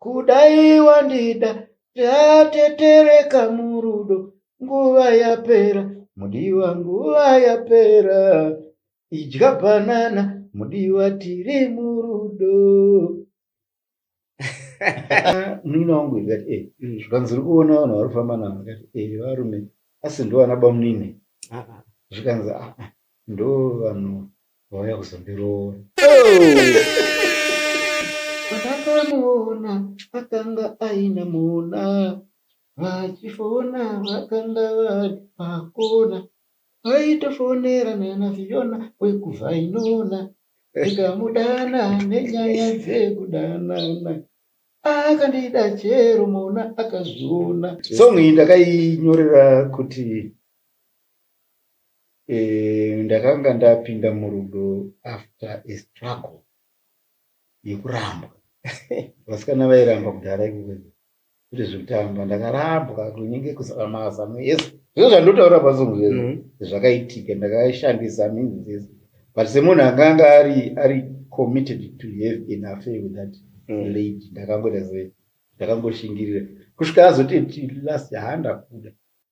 kudai wandida tatetereka murudo nguva yapera mudiwa nguva yapera idya banana mudiwa tiri murudo munini wangu ikati e eh, mm. zvikanzi uri kuona vanhu vari kufamba navo ikati e eh, varume asi ndovana bamunini ah, ah. zvikanzi aa ah, ndo vanhu vauya kuzondiroora Vakamuona akanga aine mona vachifona vakanga vari pakona vaitofonera nana Fiona wekuvhainona ndikamudana nenyaya dzekudanana akandida chero mona akazviona song iyi ndakainyorera kuti Eh, ndakanga ndapinda murudo after a struggle yekurambwa vasikana vairamba kudhara ikoko kuti zvekutamba ndakarambwa kunenge kusaka mazano ese zvino zvandotaura pasongo zve mm-hmm. zvakaitika ndakashandisa minzi dzese but semunhu akanga ari ari committed to have an affair with that mm. lady ndakangoita se ndakangoshingirira kusvika azoti last handakuda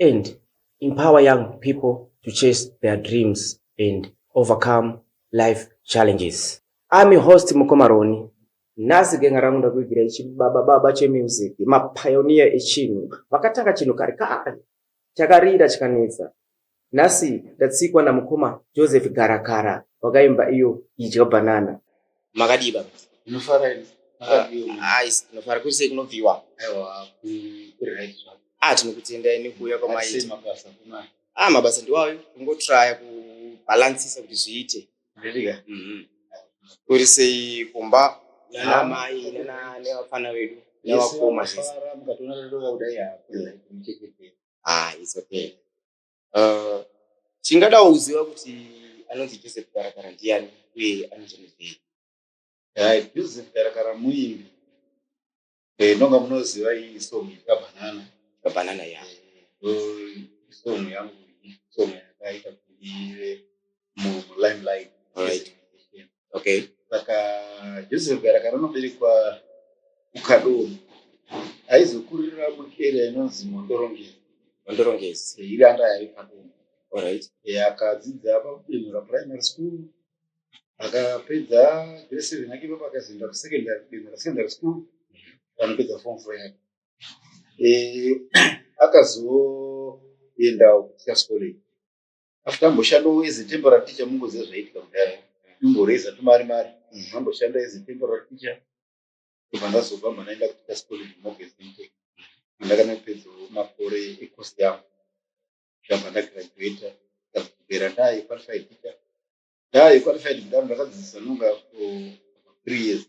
and empower young people to chase their dreams and overcome life challenges. Ami host Mukoma Roni. Nhasi genga rangu ndakuigira ichi baba baba chemusic mapioneer echinhu vakatanga chinhu kare kare chakarira chikanetsa Nhasi ndatsikwa namukoma Joseph Garakara wakaimba iyo idya banana. Makadii baba? Ndinofara ini. Ais, ndinofara kuti sei kunobviwa? Aiwa, kuri right zvako. Ah, tinokutendai nekuuya kwamaita. Asi mabasa kuna. Ah, mabasa ndiwayo. Kungotraya kubalancisa kuti zviite. Ndiriga. Mhm. Kuri sei kumba? Nana mai, nana nevafana vedu. Nevakoma zvese. Mukatoona lero kudai hapo. Mchekete. ah it's okay uh, chingadawo kuziva kuti anonzi joseph karakara ndiani uye anochanezvei eh, joseph karakara muimbi eh, nonga munoziva iyi song yekabanana kabanana ya eh, song yangu song yakaita kuti ive mulimelight right okay saka joseph garaka rinoberekwa kukadoro aizokurira muarea inonzi mondorongezi mondorongezi iri anda yari kadoro alright akadzidza pakubenhura primary school akapedza grade seven yake ipapo akazoenda kusecondary kubenhura secondary school anopedza form four yake eh, akazoendawo kuteachers college after amboshanda as a temporary teacher mungoziva zvaiitika kudhara imboreza tumari mari mm. amboshanda as a temporary teacher kubva ndazobva mba ndaenda kuita scolage mogezinte andakana kupedzawo makore ecost yangu ndabva ndagraduata ndakubera ndaye qualified teacher ndaye qualified kudaro ndakadzidzisa nonga for three years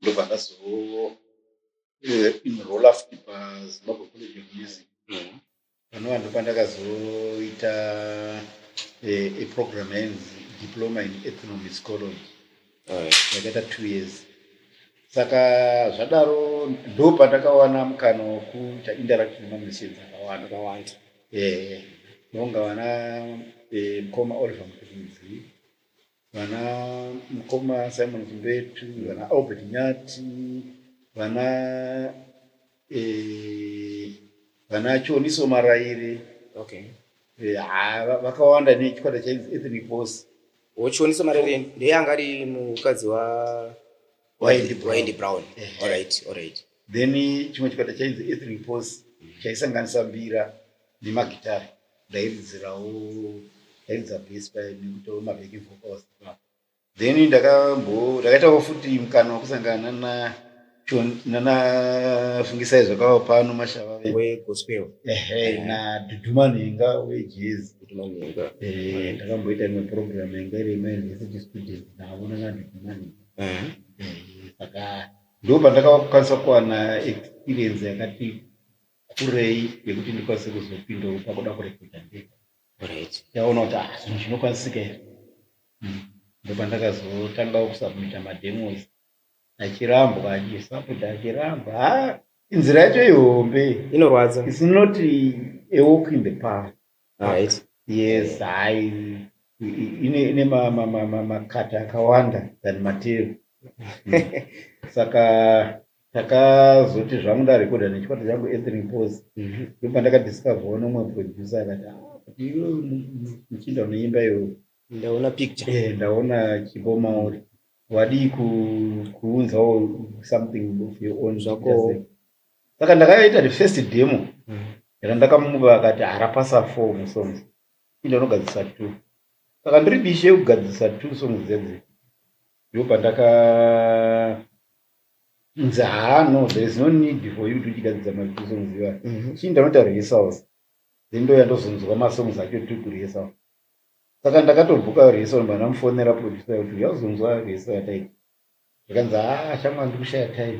ndobva ndazo eh, inrola futi pazimbabwe college of music mm. panova ndopandakazoita eh, eprogram yainzi diploma in ethnomusicology yakaita two years saka zvadaro ndo pandakawana mukana wekuita interact nemamissions akawanda akawanda ehe nonga vana eh, mukoma oliver mukudzi vana mukoma simon kumbetu mm. vana albert nyati vana eh, vana choniso maraire okay. eh, vakawanda nechikwata cha ethnic bos ochoniso maraire ndeye anga ari mukadzi wa waindi brown allright eh, eh. allright then chimwe chikwata chainzi ethnic bos mm. chaisanganisa mbira nemagitari ndairidzirawo ndairidza bass paye nekutowo mabeki vocals ipapo then ndakambo ndakaitawo futi mukana wekusangana na nana fungisai zvakawa pano mashava wegospel ehe na dudumanhenga wejazz dudumanhenga eh ndakamboita imwe program yanga iri imwe university student navo nana dudumanhenga eh saka ndopandakakwanisa kuwana experience yakati kurei yekuti ndikwanise kuzopindawo pakuda kurekodha ndega right ndaona kuti ah zvinhu zvinokwanisika here hmm. ndopandakazotangawo kusubmita mademos achirambwa achisapota achirambwa ha ah, inzira yacho ihombe inorwadza isinoti ewalk in the park Right. Yes, hai ine ine ma- ma- ma- ma- makata akawanda than matero saka takazoti zvangu ndarekodha nechikwata changu anthony pos Mhm. ndo pandakadiscover nomwe producer akati "Ah, kuti iwe mu- mu- muchinda unoimba iwe Ndaona picture. Eh, ndaona chipo mauri wadii ku- kuunzawo something of your own Zvako. Just like- saka ndakaita the first demo mm. randakamupa akati harapasa four musongs inda unogadzisa two saka ndiri bishe yekugadzisa two songs dzedzi ndo pandaka nzi haa no there is no need for you to uchigadzisa matwo songs iva mhm. chii ndanoita rehearsals then ndo yandozonzwa masongs acho two kurehearsal saka ndakatobhuka rehearsal mbandamufonera producer kuti yauzonzwa rehearsal yataita zvikanzi haa shamwa ndikushaya time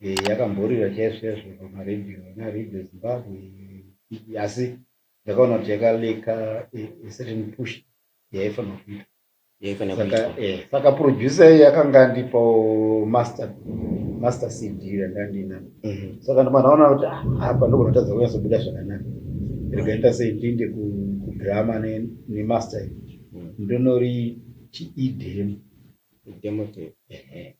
Eh, yakamborira chaizvo chaizvo pamaradio naradio zimbabwe asi ndakaona kuti yakaleka eh, a certain push yaifanira kuita yaifanira saka kuitwa eh, saka producer yakanga andipawo master master cd yanga ndina Mhm. saka ndimanaona kuti ah, apa ndogona kutadza kunyatsobuda zvakanaka ndikaita sei ndiinde ku- kudrama ne- nemaster Mm. ndonori chiidem demo tape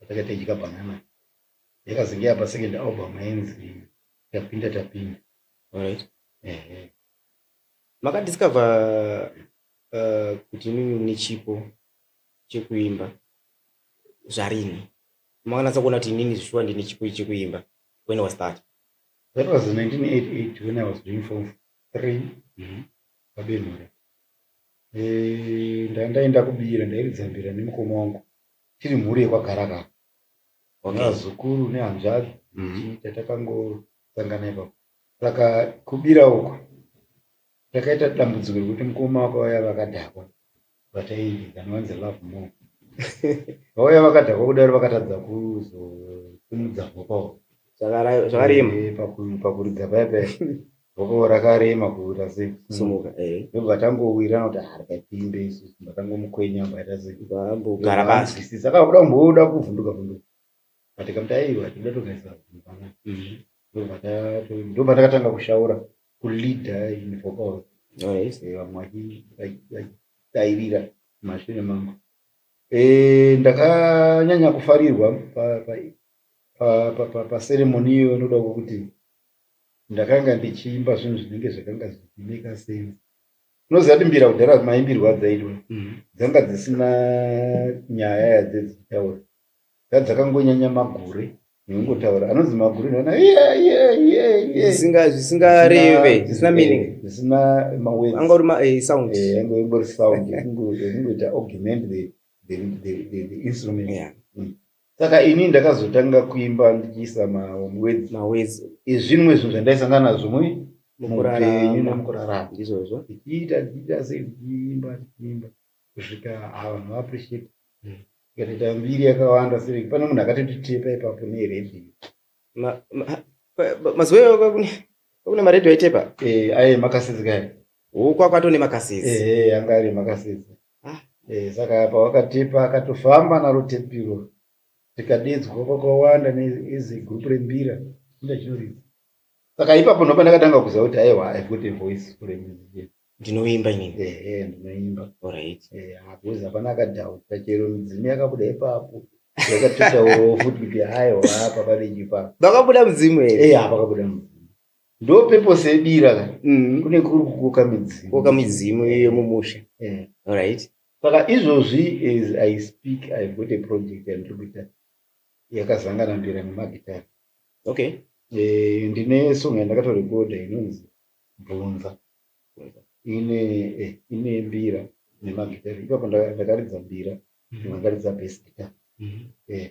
Patakanga tichidya banana yakazenge yapa second album yainzi Tapinda Tapinda. Alright. Ehe. Maka discover uh, kuti imimi mune chipo chekuimba zvarini? Makanatsa kuona kuti inini zvishuwa ndine chipo ichi chekuimba. When was that? That was 1988 when I was doing form 3 Mhm. pabenhura. Eh, nda- ndaenda kubira ndairidza mbira nemukoma wangu tiri mhuri yekwagaragara vazukuru okay. nehanzvadzi mm -hmm. tatakangosangana ipapo saka kubira uko takaita dambudziko rekuti mukoma wako vaya vakadhakwa vataianovanzi love more vauya vakadhakwa kudaro vakatadza kuzosimudza hopawo zvakarema eh, pakuridza paya paya Bhoko rakarema kuita sei? Simuka, eh. Ndobva tangowira kuti harikapinde isu ndakangomukwenya mbaita sei? Kugara pasi. Sisi saka kuda kumboda kuvhunduka vhunduka. But kam taiwa tinoda togaisa mvana. Ndobva ta- ndobva takatanga kushaura kuleader in vocal. Oh, yes. Eh, vamwe vachi- vachi- vachidairira mashure mangu Eh, ndakanyanya kufarirwa pa- pa- pa- pa- pa- paseremoni iyo inoda kuti ndakanga ndichiimba zvinhu zvinenge zvakanga zvichimeka sense unoziva kuti mbira kudhara maimbirwa dzaitwa mhm. dzanga dzisina nyaya yadze dzichitaura dza dzakangonyanya magure nekungotaura anonzi magure nana zvisingareve zvisina meaning zvisina maweangori masound angori sound ekungoita augment the instrument saka ini ndakazotanga kuimba ndichiisa mawedzi mawedzi ezvimwe zvinhu zvandaisangana nazvo mui mupenyu nemukurarama ndizvozvo ndichiita ndichiita sei ndichiimba ndichiimba kusvika havanhu vaappreciate hmm. ikatoita mbiri yakawanda sei pane munhu akatotitepa ipapo neredio mazuva iwayo kwakune kwakune maredio aitepa eh, aye makasizi kaye oh, kwakwato nemakasizi eh, eh, anga ari makasizi Ah, eh, saka apa wakatipa akatofamba naro tepiro tikadidzwa kwakawanda neizi group rembira inde chinoridza saka ipapo ndopa ndakatanga kuziva kuti aiwa i've got a voice for a musician ndinoimba inini ehe ndinoimba alright Eh, hakuzi hapana akadhauta chero midzimu yakabuda ipapo yakatotaurawo futi kuti aiwa apa pane chipapo vakabuda mudzimu here Eh, apa kabuda mudzimu ndo purpose yebira ka mm. kune kuri kukoka midzimu koka midzimu iyo mumusha yeah. alright saka izvozvi as i speak i've got a project yandiri kuita yakazangana mbira nemagitari okay eh, ndine song yandakatorekoda inonzi bvunza ine eh, ine mbira nemagitari ipapo ndakaridza mbira mm-hmm. ndakaridza best guitar mm-hmm. eh,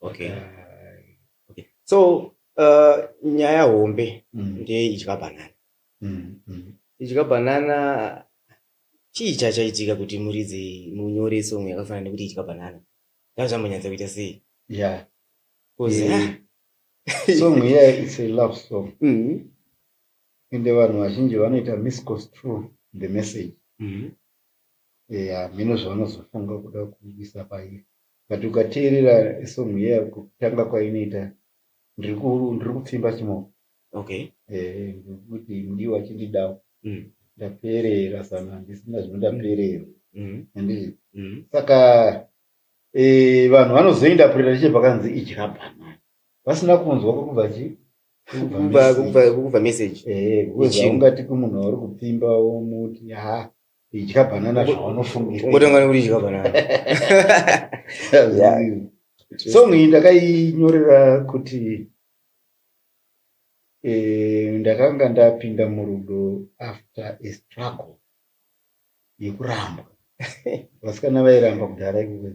okay. Uh, okay. so uh, nyaya hombe mm. ndeye idya banana mm. Mm. idya banana chii chachaitika kuti muridzi munyore song yakafanana nekuti idya banana ndazvambonyatsa kuita sei yeah. yeah. song yeah, it's a love song mm -hmm. ende vanhu vazhinji vanoita misconstrue the message mm -hmm. yeah, mino zvavanozofunga kuda kuisa pairi But ukateerera song iya kutanga kwainoita ndiri ku- ndiri kupfimba chimoko okay Eh, nekuti ndiwo achindidawo Mm. ndaperera sana handisina zvinondaperera mm. handiti Mm. saka eh, vanhu vanozoindapurira chete pakanzi idya bhanana vasina kunzwa kwekubva chi Kubva- kubva- kubva message Eh, because Yechimwe. haungati kumunhu wauri kupfimba womuti ha idya banana zvawanofungira kutanga nekuti idya banana song iyi ndakainyorera kuti eh, ndakanga ndapinda murudo after a struggle yekurambwa vasikana vairamba kudhara ikukwe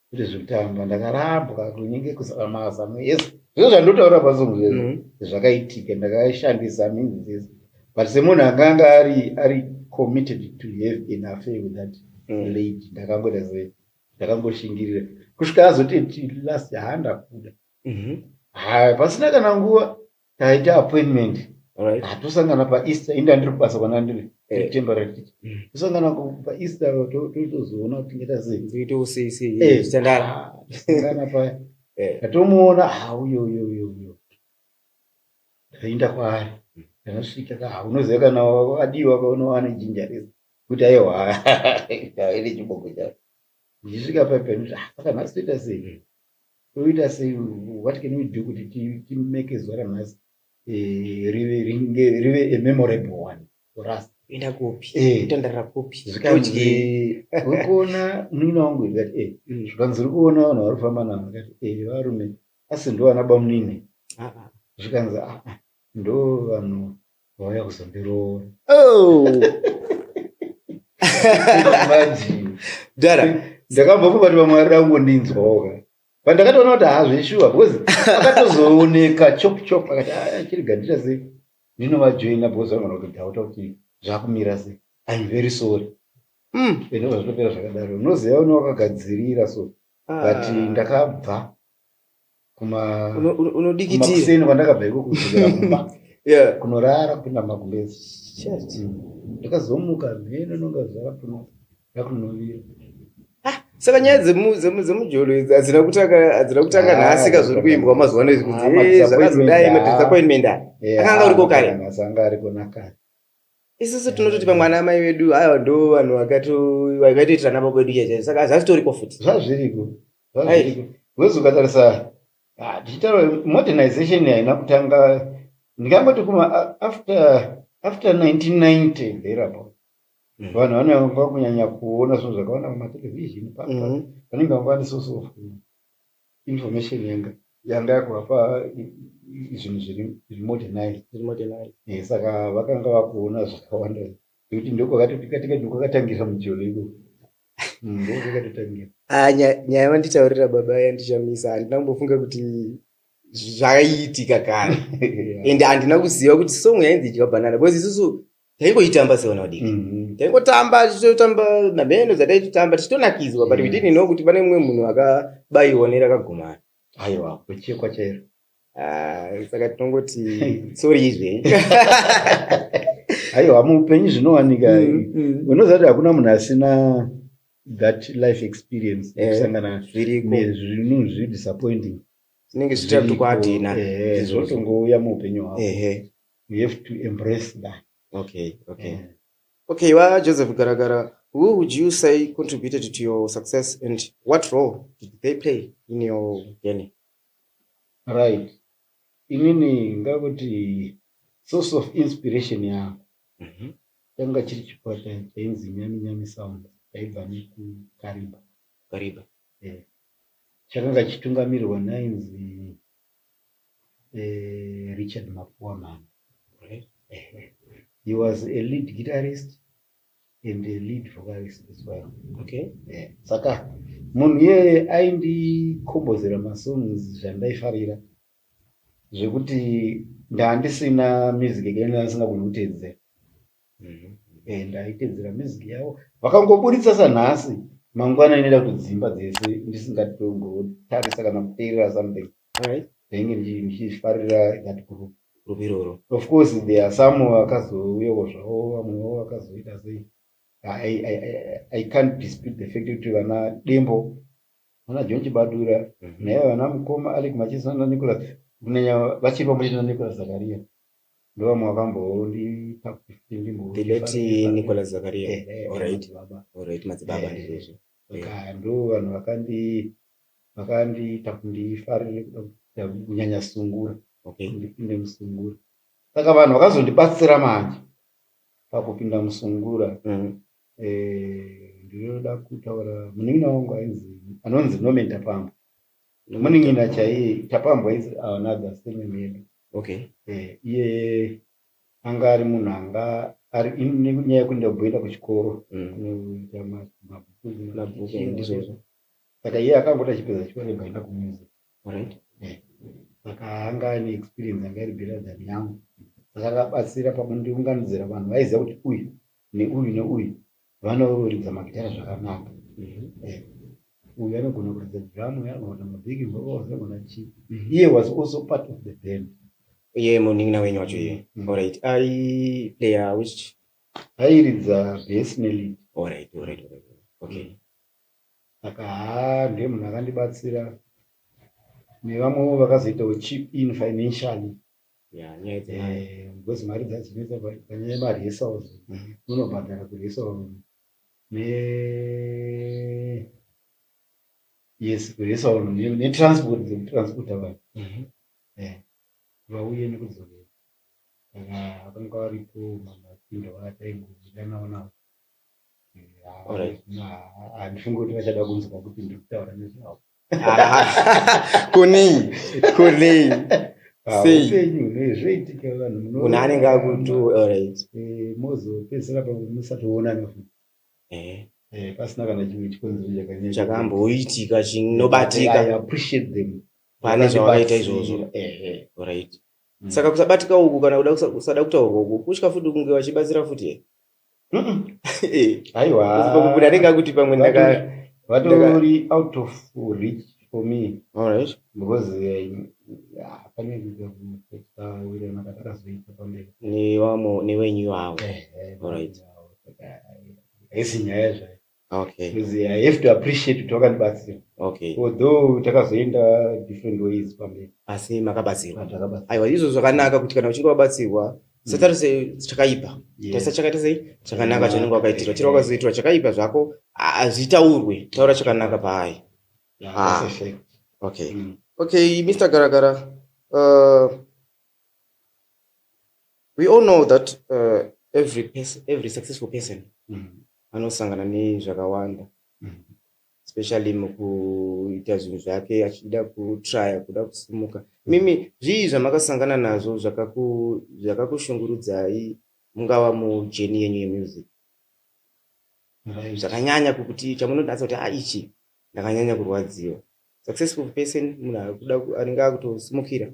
kuti zvikutamba ndakarambwa kunenge kuzara mazano ese zvino zvandotaura pazungu zvezvo mm. zvakaitika ndakashandisa minzi dzese but semunhu akanga ari ari committed to have an affair with that mm. lady ndakangoita se ndakangoshingirira kusvika azoti last handakuda mm-hmm. haya pasina kana nguva taita appointment Alright. Ah, tosangana paeaster ini ndandiri kubasa kwanandiri Eh. temporary teacher Mm. tosangana ku- paeaster to- to- tozoona kuti tingaita sei Ndoita usei sei Eh. zvichitandara. Ah, tosangana paya Eh. ndatomuona ah, uyo uyo uyo uyo ndaenda kwaari ndakasvika ka ah, unoziva kana wa- adiwa kaona wane jinja rese kuti aiwa ine chiboko chavo ndichisvika paya panoti ah, saka nhasi toita sei Toita sei? What can we do kuti timeke zuva ranhasi eh, rive a memorable one for us? Enda kupi? Eh. Kutandarira kupi? Zvikanzi ukuona munin'ina wangu here? Kati eh. Mm. Zvikanzi uri kuona vanhu vari kufamba navo? Kati eh, varume asi ndovana bamunini. Ah, ah. Zvikanzi ah, ah ndo vanhu vauya kuzondiroora oh. dara ndakabva kubati vamwe varida kungondinzwaoka but ndakatoona kuti hazveshuwa because akatozooneka chop chop akati ah, chiri gandira sei ndinovajoina because vangana kutodhauta kuti zvakumira sei im very sorry hmm. ende zvazvitopera zvakadaro unoziva une wakagadzirira so ah. but ndakabva kuma unodikitikuseni kwandakabva iko kudzokera kumba kunorara kupinda magumbezi ndakazomuka mheno nonga zvarapuno ndakunovira ah, saka nyaya dzemujolo idzi hadzina kutanga ah, nhasi ka zviri kuimbwa mazuva ano izvi kuti ah, zvakazodai madisappointment aya akanga uriko kare asanga ariko nakare isusu tinototi pamwe ana amai vedu aya ndo vanhu vakatoitira nababa vedu chaizvo saka hazvitoriko futi zvazviriko Hazviriko. Because ukatarisa ah, tichitaura modernization haina kutanga ndingangoti kuma a- after after 1990 thereabout. Mm. Vanhu vanova kunyanya kuona zvinhu zvakaona pamatelevision pa- pa- Mhm. vanenge vava ne source of information yanga yanga yakuvapa i- i- i- zvinhu zviri zviri modernized. Zviri modernized. Eh, saka vakanga vakuona zvakawanda nekuti ndokwakatotikatika ndokwakatangira mujolo ikoko ah, nyaya vanditaurira baba yandichamisa handina kumbofunga kuti zvaiitika kare and handina kuziva kuti song yainzi idya banana because isusu taingoitamba sevana vadiki mm-hmm. taingotamba tichitotamba nabhendo dzataitotamba tichitonakidzwa but we mm. didn't know kuti pane mumwe munhu akabayiwa nerakagumana aiwa kwechekwa chairo Ah, saka tinongoti tsori izve aiwa muupenyu zvinowanika mm, mm. unoziva kuti hakuna munhu asina that life experience eh, kusangana zvinhu zviri disappointing zvinenge zvichita kuti kwadina eh, zvotongouya muupenyu hwako you have to embrace that okay okay yeah. okay wajoseph garagara who would you say contributed to your success and what role did they play in your journey Right inini ngakuti source of inspiration yangu mhm. changa chiri chikwata chainzi nyami nyami sound chaibva nekukariba kariba eh, chakanga chitungamirirwa nainzi eh, richard mapuwa mhani he was a lead guitarist and a lead vocalist as well okay yeah. saka munhu iyeye aindikombozera masongs zvandaifarira zvekuti ndandisina music yekaina asingagoni kutedzera mm-hmm. eh, ndaitedzera music yavo vakangoburitsa sanhasi mangwana inoita kudzimba dzese ndisingatongotarisa kana kuteerera something ndainge ndichifarira that group group iroro of course there are some vakazouyawo zvavo vamwewo vakazoita sei I, I, I can't dispute the fact kuti vana dembo vana john chibadura mhm. naiva vana mukoma alec machisa nanicolas kunyanya vachiri pamwe chete nanicolas zakaria ndovamwe vakamboondipa kuti ndimbo the late nicolas zakaria eh, eh, eh, all right all right madzibaba ndizvozvo saka ndo vanhu vakandi vakandiita kundifarire kuda kunyanya sungura okay. ndipinde musungura saka vanhu vakazondibatsira manje pakupinda musungura mm. e, ndinoda kutaura munin'ina wangu ainzi anonzi nomen tapambwa munin'ina chaiye tapambwa is another same medu okay. e, iye anga ari munhu anga ari nenyaya yekuenda kumboenda kuchikoro mm. kunoita mabhuku ndizvozvo saka iye akangoti achipedza chikoro akaenda kumuzi eh. saka anga ane experience anga iri greater than yangu saka akabatsira pakundiunganidzira vanhu vaiziva kuti uyu neuyu neuyu vanoridza magitara zvakanaka eh, uyu anogona kuridza drum uyu anogona kuita mabhiki vocals anogona chii iye was also part of the band iye munin'ina wenyu wacho iye Mm. alright aiplaya which airidza bass nelead alright alright alright okay saka haa ndiye munhu akandibatsira nevamwewo vakazoitawo chip in financially Yeah, nyaya dzemari. Eh, because mari dzadzinetsa but panyaya yemari yesaws Mhm. munobhadhara kuresaw ne yes kuresaw netransport dzekutransporta vanhu Mhm. vauye nekudzorera saka vanga varipo mamasinda vataingobuda navo navo Eh, Alright. ha- handifungi kuti vachada kunzwa kuti ndiri kutaura nezvavo kunei kunei ah, seizvoitika vanhu kuna anenge akuti alright eh, mozopedzisira pamusatoonana futi eh. eh, pasina kana chimwe chikonzero chakanyanya chakamboitika chinobatika pane zvawakaita izvozvo right mm. saka kusabatika uku kana kuda kusada kutaurwa uku kutya futi kunge vachibatsira futi haiwakubuda anenge akuti pamwe ndaka vatori out of reach for me alright because eh, pane kuaakazoita pamberi nevamwe nevenyu avo alright haisi nyaya zvayo okay because i have to appreciate kuti wakandibatsira okay although takazoenda different ways pamberi asi makabatsirwa takabatsirwa aiwa izvo zvakanaka kuti kana uchinge wabatsirwa mm. satarise chakaipa taisa chakaita sei chakanaka ah, chaunenge wakaitirwa chiri wakazoitirwa chakaipa zvako hazvitaurwe taura chakanaka paai ah. okay mm. okay mr garagara uh, we all know that uh, every person, every successful person mm. anosangana nezvakawanda especially mukuita zvinhu zvake achida kutrya kuda kusimuka mimi zvii zvamakasangana nazvo zvakakushungurudzai mungava mujeni yenyu yemusic zvakanyanya kuti chamunonatsa kuti a ah, ichi ndakanyanya kurwadziwa successful person munhu akuda anenge akutosimukira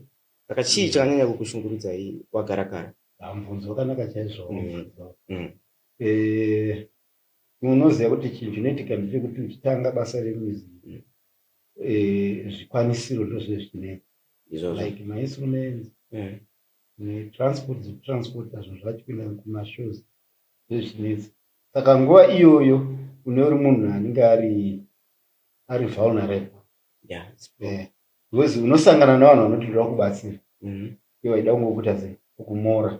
saka chii mm. chakanyanya kukushungurudzai wagarakara mubvunzo wakanaka chaizvo mm. mm. Eh, unoziva kuti chinhu chinoitika ndechekuti uchitanga basa remizi eh, zvikwanisiro ndozvinenge zvichinetsa izvozvo like mainstruments Eh, netransport dzekutransport hazvo zvacho kuenda kumashows zvezvinetsa saka nguva iyoyo une uri munhu anenge ari ari vulnerable yeah, it's- Eh, because unosangana navanhu vanoti ndoda kubatsira Mhm. iwe waida kungokuita sei kumora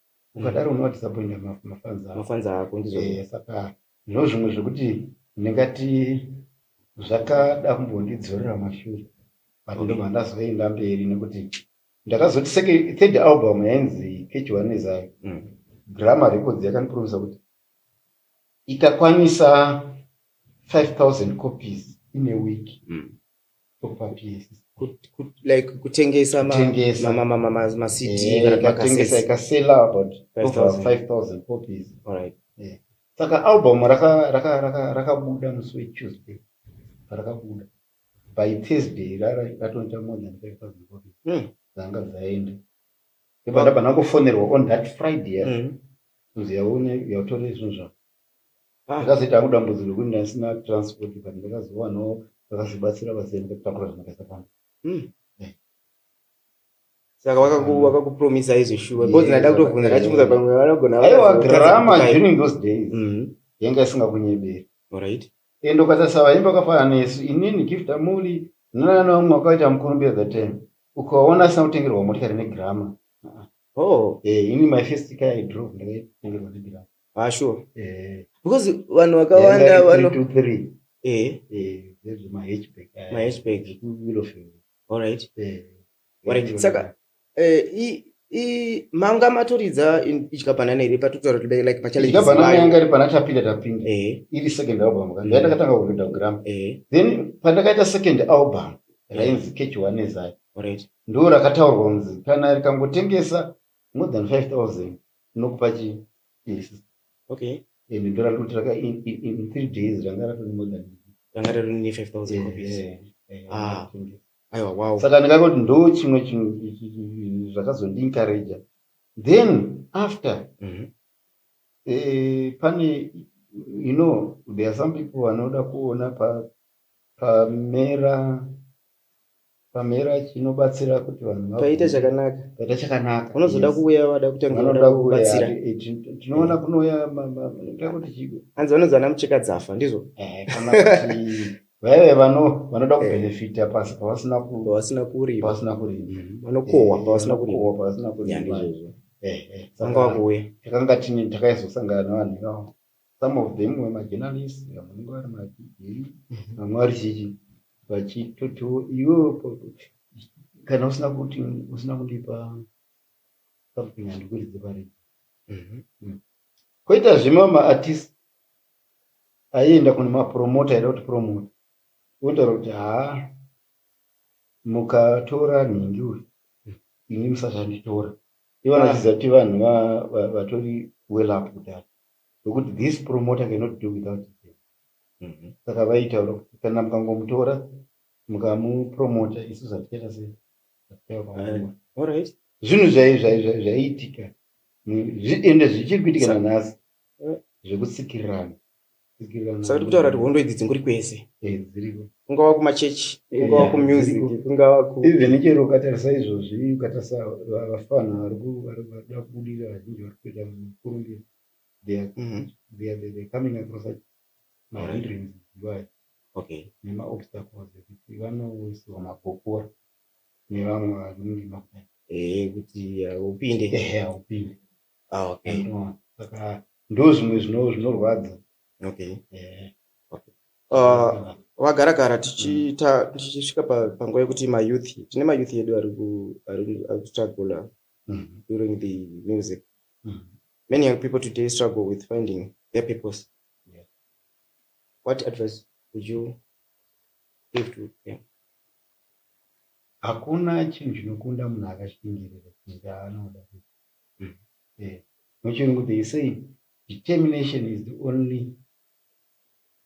ukadaro mm. unowadisappointa mafanzi ako ndizvo eh, saka ndizvo zvimwe zvekuti ndingati zvakada kumbondidzorera mashure but ndo mandazoenda mberi nekuti ndakazoti seke third album yainzi kechiwanezayo mm. grama records yakandipromisa kuti ikakwanisa 5000 copies in a week mm. like kutengesa saka album rakabuda musi wetuesday parakabuda by thursday ratonita more than five thousand copies hmm. dzanga dzaenda ndabva ndangofonerwa on that friday kunzi yaone yatore zvinhu zvako Ah, ndakazoita hangu dambudziko rekuti ndaisina transport but ndakazowanawo vakazobatsira vazee ndikatakura zvinhu ndakaisa pano Hmm. Eh. saka wakaku- wakakupromisa izvo shuwa Yes, because ndaida kutobvunza wakaku- ndachibvunza pamwe vanogona aiwa vakazokutadza grama kukupa- during those days Mhm. yanga isingakunyeberi Alright. ende ukatarisa vaimbi vakafanana nesu inini gift amuli nanana vamwe vakaita mukurumbira that time ukaona asina kutengerwa motikari negrama Oh, Eh, ini my first car i drove ndakaitengerwa negrama Ah sure. Eh. Because vanhu vakawanda vano 3 to 3. Eh. Eh, there's my hatchback. Eh, my hatchback. Kuilo feel. All right. Eh. Wari saka eh i i manga matoridza ichika banana iri patotaura kuti like pa challenge. Ichika banana yanga iri pana tapinda tapinda. Eh. Iri second album kan. Ndaenda katanga ku Rhythm Gram. Eh. Then pandakaita second album rainzi Catch One Ezai. All right. Ndoo rakataurwa kunzi kana rikangotengesa more than 5000 Ndinokupa chi yes. Okay. And ndora kuti raka in, in, in three days ranga ratoni more than ranga ratoni ne 5000 yeah, copies. Yeah, yeah, ah. Aiwa wow. Saka ndikangoti ndo chimwe chinhu zvakazondi encourager. Then after mm -hmm. eh, pane you know there are some people vanoda kuona pa pamera pamhera chinobatsira kuti vanhu paita chakanaka paita chakanaka unozoda kuuya wada kutanga kuda kubatsira eh, tinoona kunouya kuti chiko hanzi vanonzi vana mucheka dzafa ndizvo eh, vaive vano vanoda eh. kubenefita pasi pavasina pavasina kurima pavasina kurima mm-hmm. vanokohwa pavasina kurima pavasina kurima ndizvo vanga vakuuya takanga tine takaizosangana nevanhu ivavo some of them were majournalist vamwe vange vari madzidei mhm. vamwe vari chichi vachitoto iwe kana usina kuti usina kundipa something handikuridze pari mhm. mm. koita zvima maartist aienda kune mapromota aida kuti promota wotaura kuti haa mukatora nhingi uyu mm. ini musati anditora ivo ah. vanachiziva kuti vanhu vatori well up kudhara Nokuti this promoter cannot do without him. Mhm. Saka vaitaura kuti kana mukangomutora mukamupromota isu zvatichaita sei? Zvatichaita kwamuri. All right. Zvinhu zvai- zvai- zvai- zvaiitika Ni- zvi- ende zvichiri kuitika Sa- nanhasi Eh. zvekutsikirirana. Tsikirirana. Saka tiri kutaura kuti hondo idzi dzingori kwese. Eh, dziriko. kungava kumachechi kungava yeah, kumusic kungava ku even chero ukatarisa izvozvi ukatarisa vafana vari kuda kubudira vazhinji vari kuita mukurumbira they are mm -hmm. coming across such mahindrance dzivayo okay nemaobstacles ekuti vanoisirwa magokora nevamwe vanenge makudai eh kuti upinde ehe upinde ah okay saka ndozvimwe zvinorwadza okay eh Uh, vagara gara tichiita tichisvika pa- panguva yekuti mayouth tine mayouth edu ari ku- ari ku- ari kustruggle Mm. during the music Mm. many young people today struggle with finding their purpose Yeah. what advice would you give to them hakuna chinhu chinokunda munhu akashingirira kuita anoda kuita. Mm. Eh, muchirungu they say determination is the only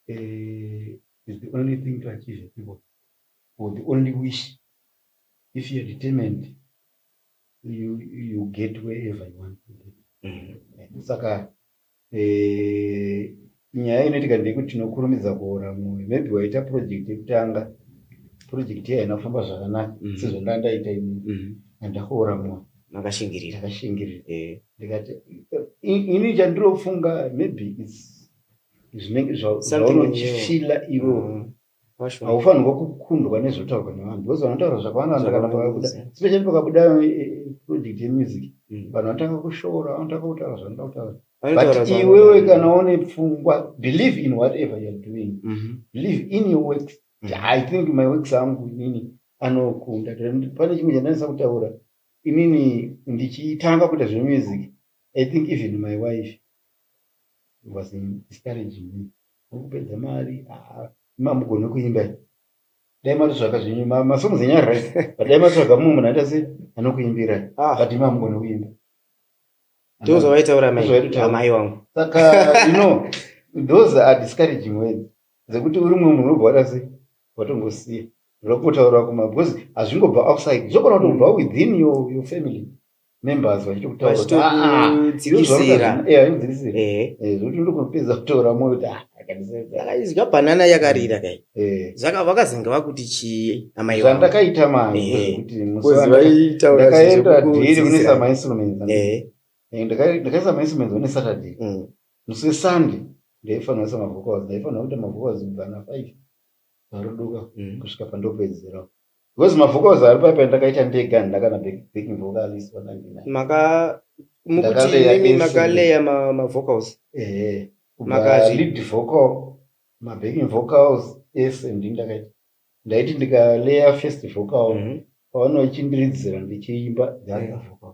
uh, is the only thing to achieve a people or the only wish if you're determined you, you get wherever you want to get mm-hmm. saka eh, nyaya inoitika ndeyekuti tinokurumidza kuora mwoyo maybe waita project yekutanga project yayo inofamba zvakanaka mm-hmm. sezvandanga ndaita ini mm-hmm. andakuora mwoyo makashingirira makashingirira eh. ndikati ini chandirofunga maybe its zvinenge zvaunochifila iwo mm. haufanirwa kukundwa nezvotaurwa nevanhu because vanotaura zvakawanda vandakanaakuda especially pakabuda eh, eh, project yemusic mm. vanhu vanotanga kushora vanotanga kutaura zvanoda kutaura but iwewe kana une pfungwa believe in whatever youare doing mm-hmm. believe in your works mm. i think my works angu inini anokunda pane chimwe chandanisa kutaura inini ndichitanga kuita zvemusic i think even my wife was discouraging me ukupedza mari ah, mamugone kuimba dai matitsvaga zvenyu masongs enyari right but dai matitsvaga mumwe munhu aita se anokuimbira ah. but imi amugone kuimba ndozvavaitaura amai wangu saka you know those are discouraging words Dzekuti uri mumwe munhu wobva wada sei watongosiya zvakutotaura kuma because hazvingobva outside zvogona kutobva mm. within your, your family members vachitokutauraaiudzikisira ah, ah, eh. eh, zvokuti ndokupedza kutaura moyo kuti ah, akaizwa banana yakarira kai eh. saka vakazenge vakuti chii amai zvandakaita maindakaenda dhiri kune samainstruments ndakaisa mainstruments one saturday mm. Musi Sunday ndaifanira kuisa mavocals, ndaifanira kuita mavocals kubva na 5 paruduka mm. kusvika pandopedzera because mavocals ari paipa ndakaita ndega handina kana backing vocalist pa 99 maka mukuti imi makaleya mavocals ehe maka lead vocal mabacking vocals ese ndi ndakaita ndaiti ndikaleya first vocal mm -hmm. pavanochindiridza ndichiimba the other mm. vocal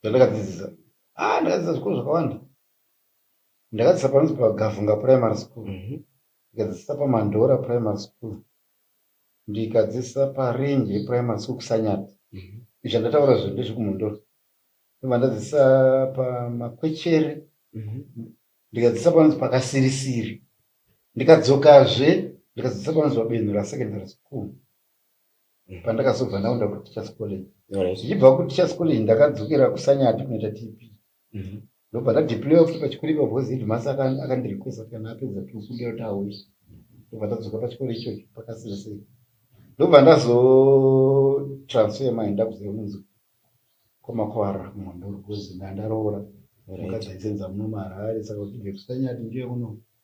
zvandakadzidzisa ah ndakadzidzisa zvikoro zvakawanda ndakadzidzisa panonzi pagavhunga primary school mhm. ndikadzidzisa pamandora primary school ndikadzidzisa parinje primary school kusanyati mhm. izvi andataura zvo ndezvekumondora ndobva ndadzidzisa pamakwechere mhm. ndikadzidzisa panonzi pakasirisiri ndikadzokazve ndikadzidzisa panonzi pabenura secondary school pandakazobva ndaenda kuteachers college ndichibva kuteachers college ndakadzokera kusanyati kunoita tp mhm. ndobva ndadeploya futi pachikoro ipa because headmasa akandirequesta kana apedza tikuda kuti auye ndobva ndadzoka pachikoro ichocho pakasira sei ndobva ndazotransfer mai ndakuziva kunzi kwamakwara mhondo because ndandaroora mukadzi aisenza muno maharare saka kuti vekusanyati ndiye kuno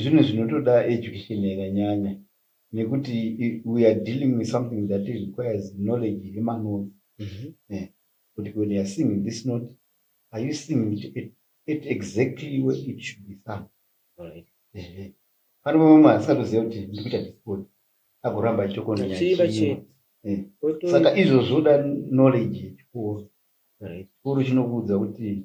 Zvinhu zvinotoda education yakanyanya nekuti we are dealing with something that requires knowledge iri manoz eh, kuti when youare singing this not are you singing it at, at exactly where it should be sung right. eh, pane vamwe asatoziva kuti ndiri kuita disport agoramba achitokonaachiiva eh. saka izvo zvoda knowledge yechikoro right. chikoro chinokuudza kuti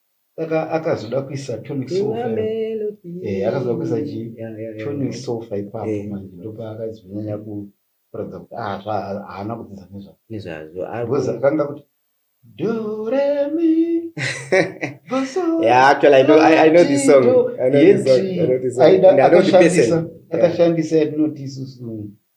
saka akazoda kuisa tonic sofa eh akazoda kuisa chi tonic sofa ipapo eh. manje ndopa akazonyanya ku kuratidza kuti ah zva haana kudzidza nezva nezvazvo because akanga kuti do re mi yeah actually i know i, I know this song i know this song i know this song i know the person akashandisa yatinoti isusu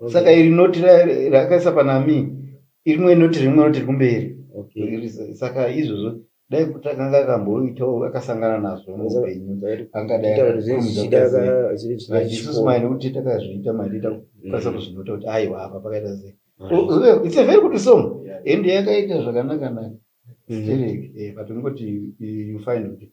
okay. saka iri noti rakaisa panami irimwe noti rimwe noti ri kumberi okay. saka izvozvo dai kuti akanga akamboitawo akasangana nazvo muupenyu angadaiisusu mai nekuti takazviita maiita kukwanisa mm. kuzvinota kuti aiwa apa pakaita sei mm. oh, oh, it's a very good song ende yakaita zvakanakanaka mm. sterek eh, but ungoti you find kuti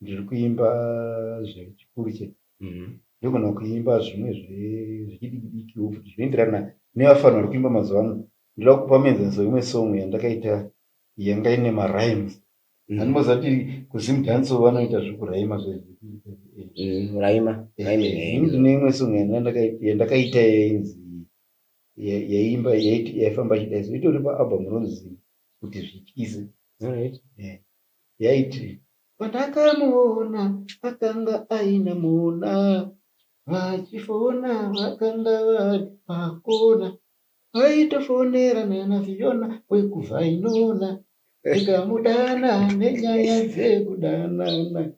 Ndiri kuimba zvechikuru chete ndogona kuimba zvimwe zvechidikidiki futi zvinoenderana nevafana vari kuimba mazuva ano ndoda kupa muenzaniso imwe song yandakaita yanga ine marimes mm. andimboziva kuti kuzimdanso vanoita zvekuraima zvezviraima mm, eh, eh, ndine imwe song yandakaita yainzi yaimba yaifamba chidaiso itori paalbum ronzi kuti zvityise eh. yaiti. Pandakamuona akanga aine mona vachifona vakanga vari pakona vaitofonera nana Fiona wekuVhainona ndikamudana nenyaya dzekudanana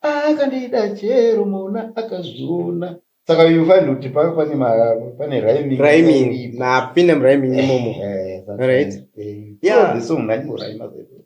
akandida chero mona akazviona saka you find kuti pave pane ma- pane rhyming rhyming iripo. napinda murhyming imomo Eh, eh, right. eh, Yeah. so the song ngaimborhima zvedu.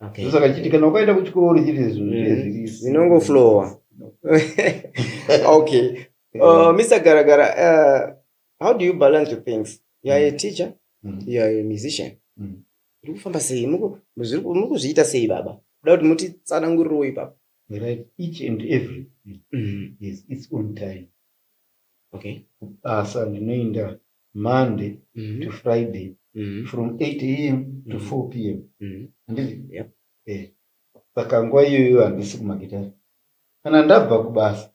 Okay. ndosaka chiti kana ukaenda kuchikoro chiri izvo Mm. zviye zviri Zvinongoflowa. okay. Uh, Mr. Garagara, uh, how do you balance your things? You are a teacher, Mm. you are a musician. Mm. Muri kufamba sei? Muku- zviri ku- muri kuzviita sei baba? Kuda kuti muti tsanangurirewo ipapo. We write each and every thing. Yes, its own time. Okay. Basa ndinoenda Monday to Friday from 8am to 4pm handiti eh saka nguva iyoyo handisi kumagitare kana ndabva kubasa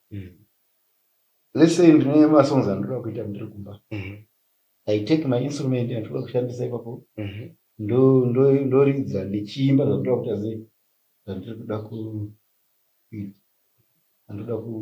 let's say ndine masongs andinoda kuita ndiri kumba i take my instrument andinoda kushandisa ipapo ndo- ndo- ndoridza ndichiimba zvandoda kuita sei zvandiri kuda ku anoda ku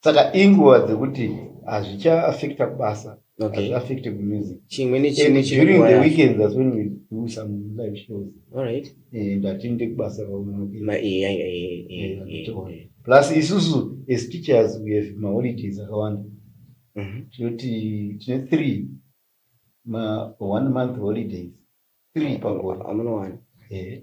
saka inguva dzekuti hazvicha affecta kubasa okay. affect music chimwe nechimwe during the weekends as when we do some live shows all right and eh, atinde kubasa kaunokuma iya iya iya plus isusu as teachers we have ma holidays akawanda mhm. tinoti tine three ma one month holidays three pagore amunowana eh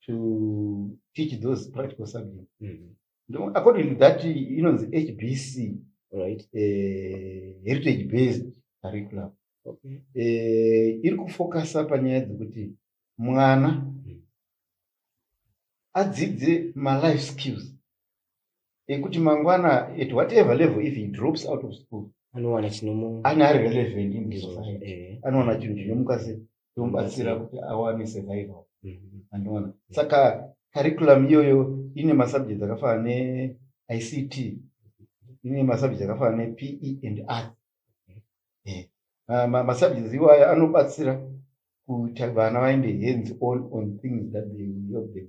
to teach those practical subjects mm -hmm. according to that inonzi hbc right uh, heritage based curriculum okay. uh, iri kufocusa panyaya dzekuti mwana mm. adzidze malife skills ekuti mangwana at whatever level if he drops out of school anowana chinomu ana ari relevant in this society eh. anowana chinhu chinomuka se tomubatsira kuti awane survival mhm. anoona saka curriculum iyoyo ine masubject akafana neict ine masubject akafana nepe and art eh. masubjects iwayo anobatsira kuti vana vaende hands on on things that they will help them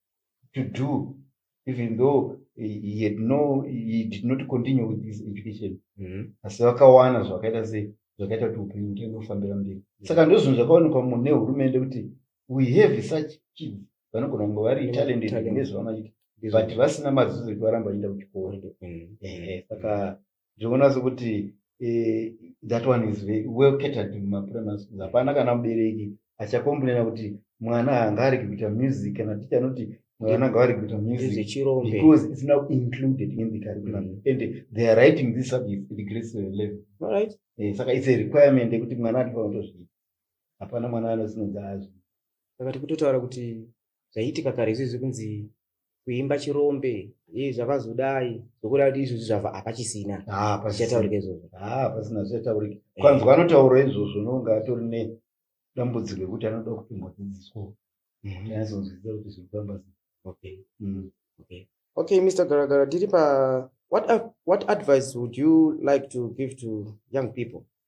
to do even though he had no he did not continue with his education mm-hmm. asi vakawana zvakaita se zvakaita kuti upenyu hutenge kufambira mberi mm-hmm. saka ndozvinhu zvakaonekwa mune hurumende kuti we have such kids vanogona kunge vari mm-hmm. talented nezvavanoita but vasina mazuzo ekuvaramba vachienda kuchikoro saka zvekuona sekuti eh, that one is well catered mumaprimary schools hapana kana mubereki achakombunena kuti mwana hanga ariki kuita music kana ticha anoti mwana anga ari kuita musicbecause its now included in the curriculum mm. and they are writing this subject at grade seven level right eh, saka its a requirement yekuti mwana atifanira kutozviita hapana mwana anosinonzi azvi saka tikutotaura kuti zvaiitika kare izvizvi kunzi kuimba chirombe e zvakazodai zvokuda kuti izvozvi zvava hapachisina ah, chichataurika izvozvo ah, pasina zvichataurika eh. kwanzwa anotaura izvozvo nonga atori ne dambudziko rekuti anoda kutombodzidziswa mhm. anazonzwisisa kuti zviri kufamba okay mm. okay okay mr garagara tiri pa what, what advice would you like to give to young people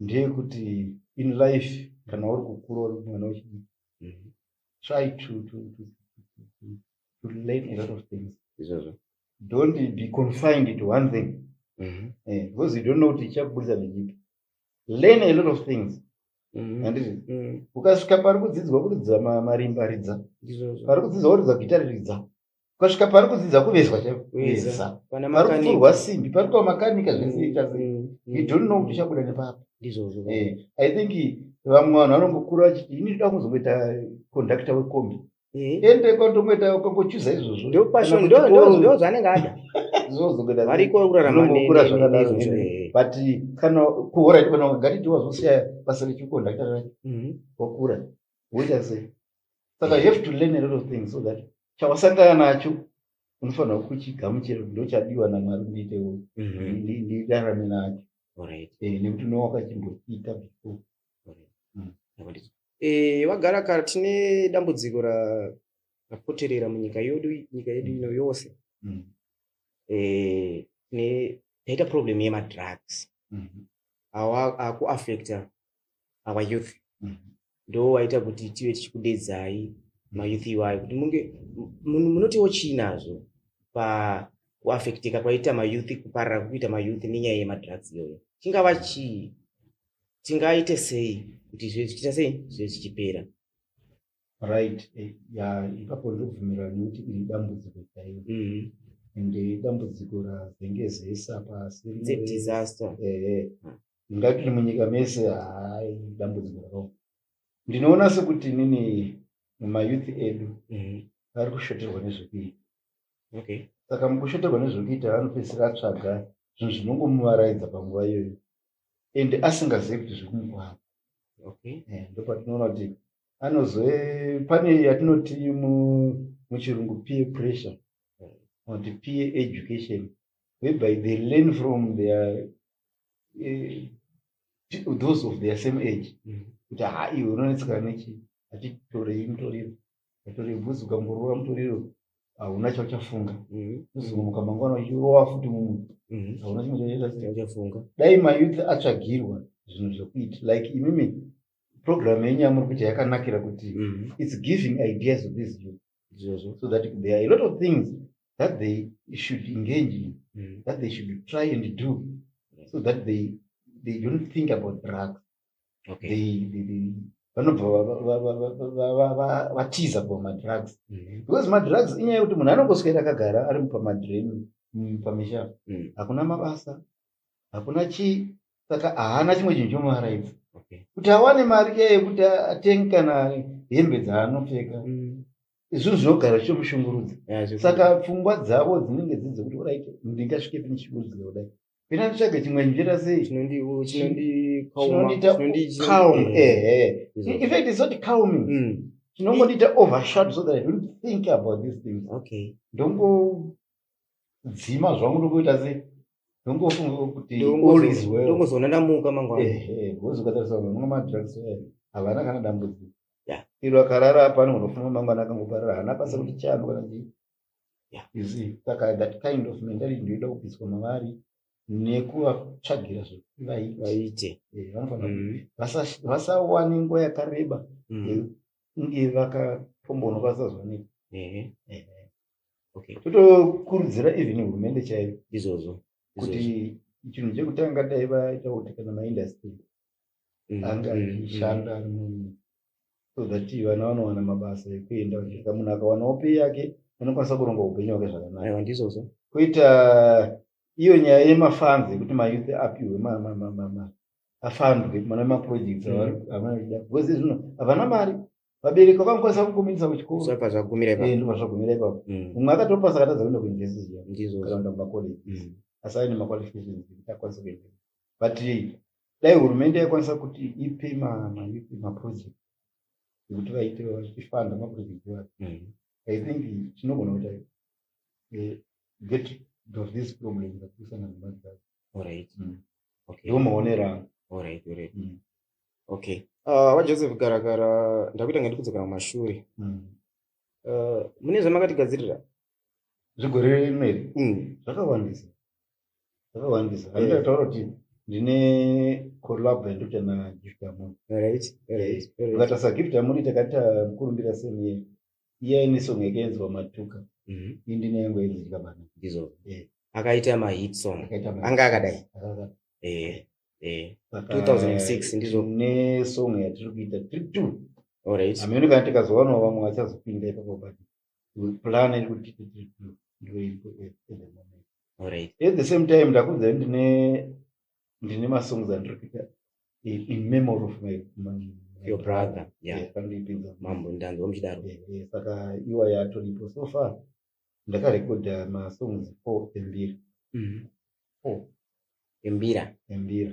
ndeyekuti in life kana uri kukura uri mwana wechidii mhm. try to, to, to, to, to learn a lot of things izvozvo don't be confined to one thing mm -hmm. eh, because you don't know kuti ichakubudisa nechipi learn a lot of things Mm-hmm. handiti mm-hmm. ukasvika pari kudzidzwa kuridza marimba ridza pari kudzidzwa kuridza gita riridza ukasvika pari kudzidza kuvezwa chaiveza pari kupfurwa simbi pari kuva makanika zvinoita mm, mm, mm. we don't know kuti chabuda nepapi ndizvozvo eh, i think vamwe vanhu vanongokura vachiti ini ndoda kuzongoita conductor wekombi eh? ende kwandomoita ukangochuza izvozvo ndozvanenge ada variko kuraramakura zvakadaro eh. but kana kuhora iti kana ukagati tiwazosiya basa rechikonductor racho wakura woita sei saka you have to learn a lot of things so that chawasangana nacho unofanira kuchigamuchira kuti ndochadiwa namwari ndiite ndirarame nacho nekuti unowa wakachimbochiita before vagara mm. eh, kare tine dambudziko rapoterera munyika yedu nyika yedu ino yose mm. eh, taita problem yemadrugs mm-hmm. awa akuaffecta our youth mm. ndo waita kuti tive tichikudedzai mayouth iwayo kuti munge munotiwo chii nazvo pakuafecteka kwaita mayouth kuparira kukuita mayouth nenyaya yemadrugs iyoyo chingava chii tingaite sei kuti zvichiita sei zvive zvichipera right eh, ya ipapo ndokubvumirana nekuti iri dambudziko chaiyo mm. and dambudziko razenge zesa pasi disaster ehe mm. ngatiri munyika mese hai dambudziko rakao ndinoona sekuti nini mumayouth edu mm. ari kushoterwa nezvekuita okay saka mukushoterwa nezvekuita anopedzisira atsvaga zvinhu zvinongomuvaraidza panguva iyoyo and asingazivi kuti zviri kumukwana okay eh, ndopatinoona kuti anozo pane yatinoti muchirungu peer pressure or the peer education whereby they learn from their uh, those of their same age mm. kuti ha iwe unonetseka nechi atitorei mutoriro yatori bhuzi ukangorova mutoriro hauna chauchafunga uzongomuka mhm. mangwana uchirova futi mumwe mhm. hauna chimwe chauchafunga dai mayouth atsvagirwa zvinhu zvekuita like imimi program yenyu yamuri kuita yakanakira kuti mhm. its giving ideas of this youth so that there are a lot of things that they should engage in that they should try and do so that they, they don't think about drugs vanobva vatiza kuva madrugs mm-hmm. because madrugs inyaya yekuti munhu anongoswera akagara ari pamadream mm, pamisha mm. hakuna mabasa hakuna chii saka haana chimwe chinhu chomuaraidza kuti awane mari iya yekuti atenge kana hembe dzaanopfeka mm. izvozvo zvinogara zvichomushungurudza saka pfungwa dzavo dzinenge dzidzokuti orit ndingasvike pini chikurudzira kudai Pina nditsvage chimwe njira sei? Chinondi chinondi Chinondiita calm. Eh eh. In fact it's not calming. Mm. Chinongondiita overshut so that I don't think about these things. Okay. Ndongo dzima zvangu ndokuita sei? Ndongofunga kuti all is well. Ndongozoona ndamuka mangwana. Eh eh. Wozokatarisa mamwe madrugs eh. Havana kana dambudziko. Yeah. Iro akarara apa anogona kufunga mangwana akangoparara. Hana pasa kuti chano kana chii. yeah. you see saka that kind of mentality ndoida kubviswa mavari nekuvatsvagira zvekuti vaite eh, vanofanira mm. vasawane nguva yakareba mm. yekunge vakatomboona vasazooneka totokurudzira even hurumende chaiyo izvozvo kuti chinhu chekutanga dai vaita kuti kana maindastry mm, anga achishanda so that vana vanowana mabasa ekuenda vachirika munhu akawanawo pei yake anokwanisa kuronga upenyu hwake zvakanaka ndizvozvo kuita iyo nyaya yemafanzi yekuti mayouth apiwe afandwe mana maprojects mm. avarikuda because zvino havana mari vabereki vakangokwanisa kukumirisa kuchikoroazvagumira eh, ipapo mm. mumwe akatopasa akatadza kuenda kuuniversity yakaraunda mumacollege mm. asi aine maqualifications ekuti akwanisa kuenda but dai hurumende yaikwanisa kuti ipe mayouth maproject ekuti vaite vachifanda maproject ayo mm. i think tinogona kuita eh, get of this problem zakuisana nemadzaa orit mm. ndiwo maonero angu orit orit mm. okay ah, vajoseph garakara ndakuita nga ndikudzokera kumashure eh, mune zvamakatigadzirira zvigore rino iri mm. zvakawandisa zvakawandisa eh. handida kutaura kuti ndine collab yandu kuita nagift amoni ukatarisa gift amoni takaita mukurumbira semiye iya ine song yakaenzwa matuka mhm. i ndine yangu yainzika bana izo eh. akaita mahit song anga akadai 2006 eh, ndizvo nesong yatiri kuita tiri two amene kana tikazowanawo vamwe vachazopinda ipapo bati plan iri kuti ndoimbo at the moment alright at the same time ndakunza ndine ndine masongs andiri kuita in memory of my, my your brother yeah pandipinza mambo ndanzwa muchidaro saka iwa yatoripo so far ndakarekodha masongs four embiri mm-hmm. four embira embira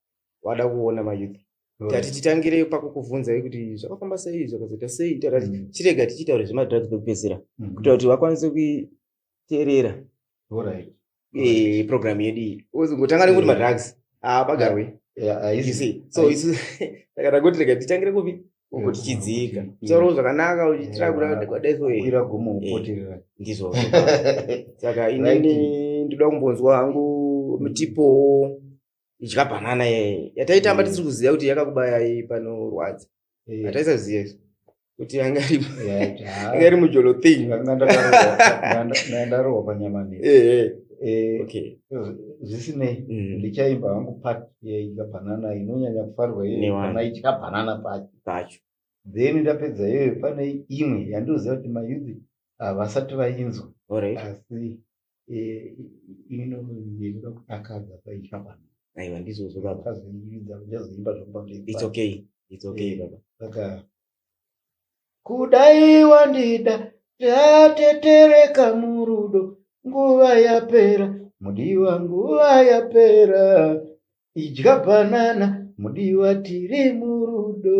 wada kuona mayouth tati titangire pakukuvhunza kuti zvakafamba sei zvakazoita sei tati mm. chirega tichitaura zvemadrugs pekupedzisira mm-hmm. kuita kuti vakwanise kuteerera eh, program yedu iyi ngotanga nekuti madrugs apagarwe so isu takada kuti rega titangire kupi uko tichidzika taurawo zvakanaka uchiitira kudakwadaisoira gomo kupoterera eh, ndizvo saka inini ndoda kumbonzwa hangu mutipowo idya banana yeye yataitamba tisiri kuziva kuti yakakubaya iyi panorwadza hataisaziva isu kuti anga iri mujolo thing ndarohwa panyama ne zvisinei ndichaimba hangu pat yaidya banana inonyanya kufarwa iyana idya banana pacho then ndapedza iyoyo pane imwe yandioziva kuti mayuthi havasati vainzwa asi eh, ini ndinoda kutakadza paitwa pano aiwa ndizvozvo baba kazoiridza kuchazoimba zvakupambeiits okay its okay eh, baba saka kudai wandida tatetereka murudo nguva yapera mudiwa nguva yapera idya bhanana mudiwa tiri murudo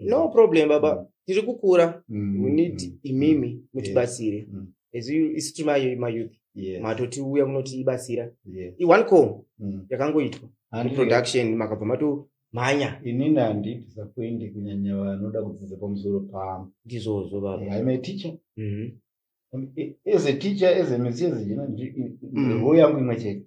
no problem baba mm. tiri kukura mm. we need mm. imimi mm. mutibatsire mm. as you isi tiri mayouth yes. matotiuya munotibatsira yes. one call mm. yakangoitwa production makabva mato mhanya inini handiti sakuende kunyanya vanoda kudzidza pamusoro pamo ndizvozvo baba yeah, im a teacher mm -hmm. as a teacher as a musician mm. yangu imwe chete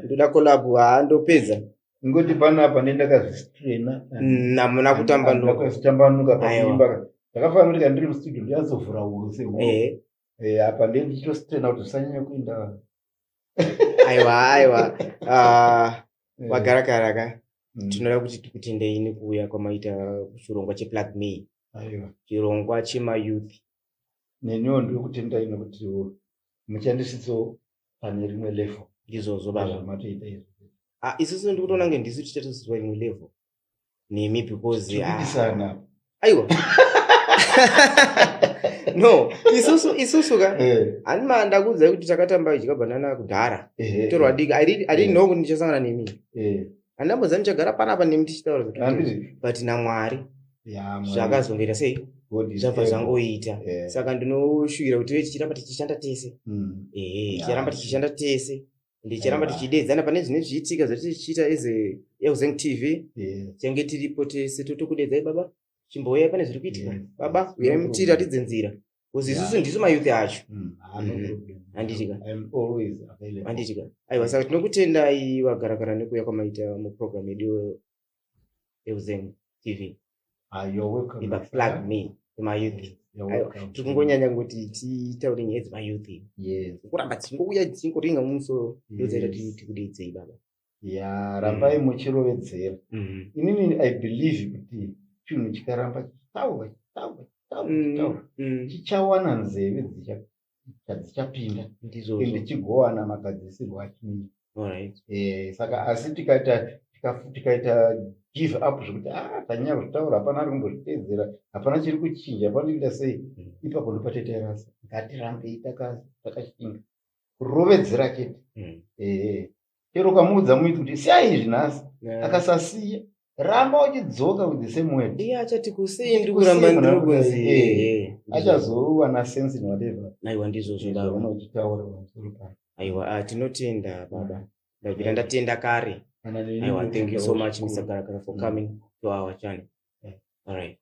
ndoda collab haa ndopedza ngoti panapa nendakazvistrena namuna kutambanukakutambanuka paimba ndakafanira kuti kandiri mustudio ndiyazovhura huro sehu eh. eh, apa ndenditostrena kuti zvisanyanya kuenda aiwa aiwa ah, eh. wagara karaka mm. tinoda kuti tikutendei nekuuya kwamaita chirongwa cheplug me chirongwa chemayouth neniwo ndiri kutendai nekuti muchandisidzo pane rimwe level ndizvozvo bavamatoita izvo ah, isusu ndikutonange ndisu tichatoziva imwe level nemi because ah. aiwa no isusu isusu ka hanima eh. ndakuudzai kuti takatamba idyabhanana kudhara torwadika i didn't eh. know kuti ndichasangana nemi eh. handamboziva ndichagara panapa nemi tichitaura but namwari zvakazongera sei zvabva zvangoita eh. saka ndinoshuvira kuti ve tichiramba tichishanda tese hmm. ehe tichiramba tichishanda tese ndichiramba tichideedzana pane zvine zvichiitika zvatichiita as euzeng tv tiange tiripo tese totokudeedzai baba chimbouyai pane zviri kuitika baba uyai mutiratidze nzira bcause isusu ndisu mayouth acho mm, handitika handitika aiwa saka tinokutendai vagarakara nekuuya kwamaita muprogram yedu euzem tv ah, ibaplug me mayouth tiri kungonyanya kuti titaure nyaya dzemayouth kuramba tichingouya tichingoringa mumusoro ndozaita tikudeidzei baba ya rambai mm. muchirovedzera mm. inini i believe kuti chinhu chikaramba chitaura chitaura chitaura mm, chitaura chichawana nzeve dzichapinda ende chigowana magadzisirwo achinyika eh, saka asi tikaita tikaita give up zvekuti a ah, tanyaya kuzvitaura hapana ari kumbozviteedzera hapana chiri kuchinja hapana tikuita sei ipapo ndopatetairasa ngatirambei takashinga kurovedzera chete ehe chero ukamuudza muiti kuti siyai izvi nhasi akasasiya ramba uchidzoka with the same word iye achati kusei ndiri kuramba ndiri kunzi achazowana sense in whatever aiwa ndizvo zvodaro unochitaura pamusoro paa aiwa ah, tinotenda baba ndabvira ndatenda kare aiwa thank you so much mr karakara for mm. coming to our channel all right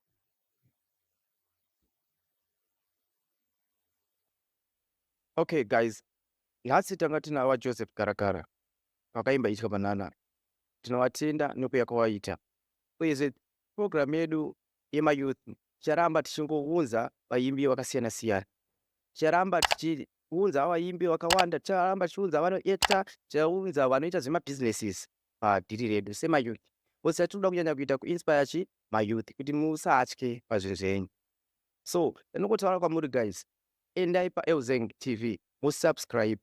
Okay guys, nhasi tanga tina vaJoseph Karakara vakaimba Itya Banana. Tinovatenda nekuuya kwawaita. Uyezve program yedu yemayouth ticharamba tichingounza vaimbi vakasiyana siyana. Ticharamba tichiunza vaimbi vakawanda, ticharamba tichiunza vanoekta, tichaunza vanoita zvemabusinesses padhiri redu semayouth. Bhosi yatinoda kunyanya kuita kuinspire chi mayouth kuti musatye pazvinhu zvenyu. So, ndinokotaura kwamuri guys, endai paEuzeng TV musubscribe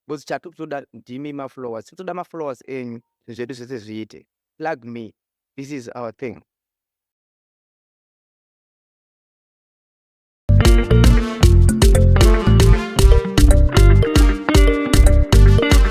because chatiri kutoda ndimi mafollowers tiri kutoda mafollowers enyu zvinhu zvedu zvese zviite plug me this is our thing